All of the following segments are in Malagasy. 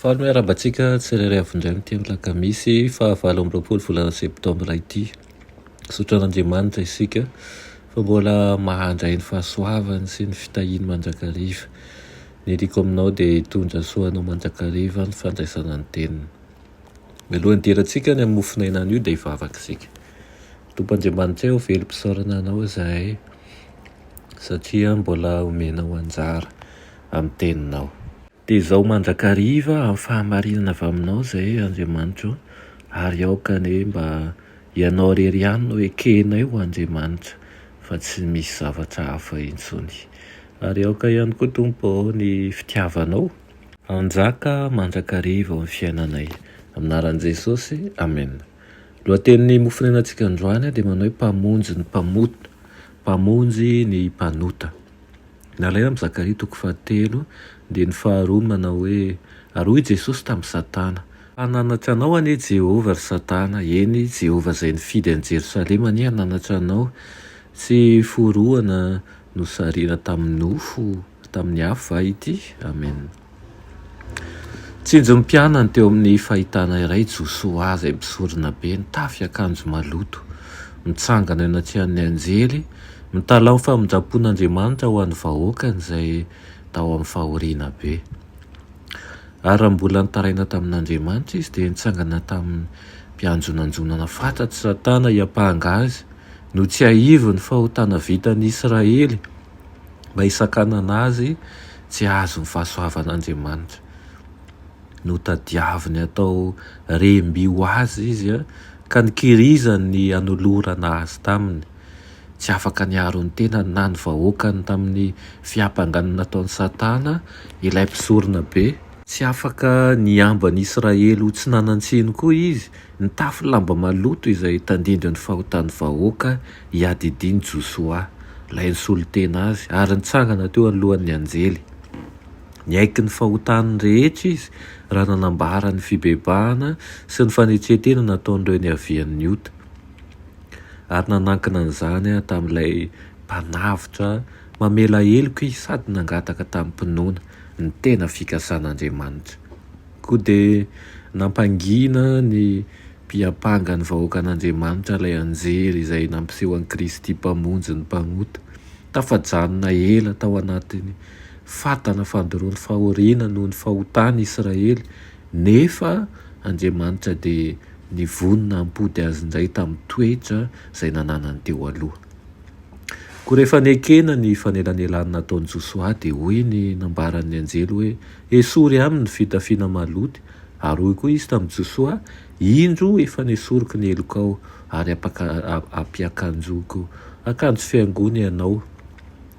Faly ny hoe arahabantsika tsirairay avy indray amin'ity alakamisy faha valo amby roapolo volana septambra ity. Misaotra an'Andriamanitra isika fa mbola mahandray ny fahasoavany sy ny fitahiany mandrakariva. Ny hiriako aminao dia hitondra soa anao mandrakariva ny fandraisana ny teniny. Mialohan'ny hidirantsika any amin'ny mofonaina anio dia hivavaka isika. Tompo Andriamanitray ô velom-pisaorana anao izahay satria mbola omenao anjara amin'ny teninao. Dia izao mandrakariva amin'ny fahamarinana avy aminao izay, Andriamanitra o, ary aoka anie mba Ianao irery ihany no ekehinay ho Andriamanitra, fa tsy misy zavatra hafa intsony. Ary aoka ihany koa, Tompo ô, ny Fitiavanao hanjaka mandrakariva ao amin'ny fiainanay. Amin'ny anaran'i Jesosy, amena. Ny lohatenin'ny mofonenan-tsika androany dia manao hoe, Mpamonjy ny mpamono, Mpamonjy ny mpanota. Nalaina amin'i Zakaria toko fahatelo, dia ny faharoa no manao hoe, Ary hoy Jesosy tamin'i Satana, Fa nanatra anao anie Jehovah, ry Satana, eny, Jehovah izay nifidy an'i Jerosalema anie hananatra anao, tsy forohana nosarihina tamin'ny nofo, tamin'ny afo va ity? Amena. Tsinjo ny mpianany teo amin'ny fahitana iray Josoa izay misorona be, nitafy akanjo maloto, mitsangana eny an-tsehan'ny anjely, mitalaho ny famindram-pon'Andriamanitra ho an'ny vahoakany izay tao amin'ny fahoriana be. Ary raha mbola nitaraina tamin'Andriamanitra izy, dia nitsangana tamin'ny mpianjonanjonana fatratra i Satana hiampanga azy, notsiahiviny fahotana vitan'i Israely, Mba hisakanana azy tsy hahazo ny fahasoavan'Andriamanitra. Notadiaviny hatao rem-by ho azy izy, ka nikirizany ny hanolorana azy taminy. Tsy afaka niaro ny tenany na ny vahoakany tamin'ny fiampangana nataon'i Satana, ilay mpisoronabe. Tsy afaka nihambo an'i Israely ho tsy nanan-tsiny koa izy. Nitafy lamba maloto izay tandindon'ny fahotan'ny vahoaka i Adidin Joshua, ilay nisolo tena azy, ary nitsangana teo anoloan'ny anjely. Niaiky ny fahotany rehetra izy raha nanambara ny fibebahana sy ny fanetren-tena nataon'ireo niavian'ny ota, ary nanankina an'izany tamin'ilay Mpanavotra mamela heloka izy sady nangataka tamim-pinoana ny tena fikasan'Andriamanitra. Koa dia nampangina ny mpiampanga ny vahoakan'Andriamanitra ilay anjely izay nampiseho an'i Kristy Mpamonjy ny mpanota. Tafajanona ela tao anatin'ny fatana fandoroan'ny fahoriana noho ny fahotany i Israely, nefa Andriamanitra dia nivonona hampody azy indray tamin'ny toetra izay nananany teo aloha. Koa rehefa nekena ny fanelanelanina nataon'i Josoa, dia hoy ny nambaran'ny anjely hoe, Esory aminy ny fitafiana maloty, ary hoy koa izy tamin'i Josoa, Indro, efa nesoriko ny helokao, ary ampiakanjoiko akanjo fihaingoana ianao.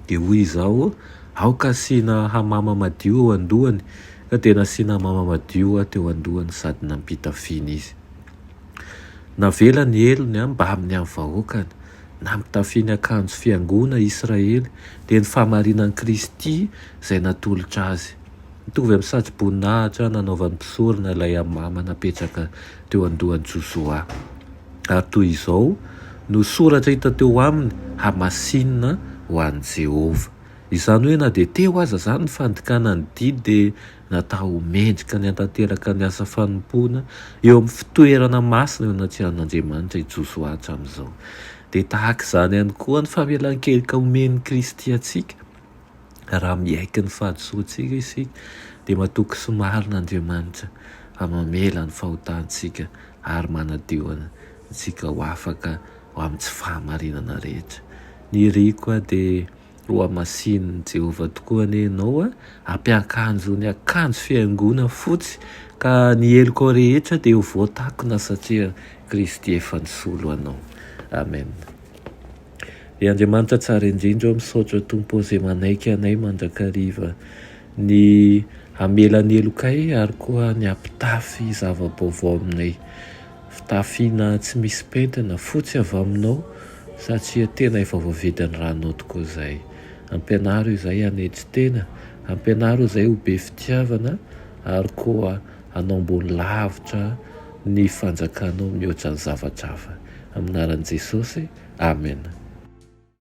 Dia hoy izaho, Aoka hasiana hamama madio eo an-dohany. Ka dia nasiana hamama madio teo an-dohany sady nampitafiana izy. Navelany ny helony mbamin'ny an'ny vahoakany. na mitafy ny akanjo fiangoana Israely, dia ny fahamarinan'i Kristy izay natolotra azy. Mitovy amin'ny satroboninahitra nanaovan'ny mpisorona ilay hamama napetraka teo an-dohan'i Josoa. Ary toy izao no soratra hita teo aminy, Hamasinina ho an'i Jehovah. Izany hoe na dia teo aza izany ny fandikana ny didy dia natao ho mendrika ny hantanteraka ny asa fanompoana eo amin'ny fitoerana masina eo anatrehan'Andriamanitra i Josoa hatramin'izao. Dia tahaka izany ihany koa ny famelan-keloka omen'i Kristy antsika, raha miaiky ny fahadisoantsika isika, dia matoky sy marina Andriamanitra fa mamela ny fahotantsika ary manadio antsika ho afaka ho amin'ny tsy fahamarinana rehetra. Ny riko dia. Ho hamasinin'i Jehovah tokoa anie ianao, ampiankanjo ny akanjo fihaingoana fotsy, ka ny helokao rehetra dia ho voatakona satria Kristy efa nisolo anao. Amen. Ry Andriamanitra tsara indrindra ô, misaotra Tompo ô izay manaiky anay mandrakariva ny hamela ny helokay ary koa ny hampitafy zava-baovao aminay. Fitafiana tsy misy pentina, fotsy avy aminao satria tena efa voavidin'ny ranao tokoa izay. Ampianaro izay hanetry tena, ampianaro izay ho be fitiavana ary koa hanao ambony lavitra ny fanjakanao mihoatra ny zavatra hafa. Amin'ny anaran'i Jesosy, Amena.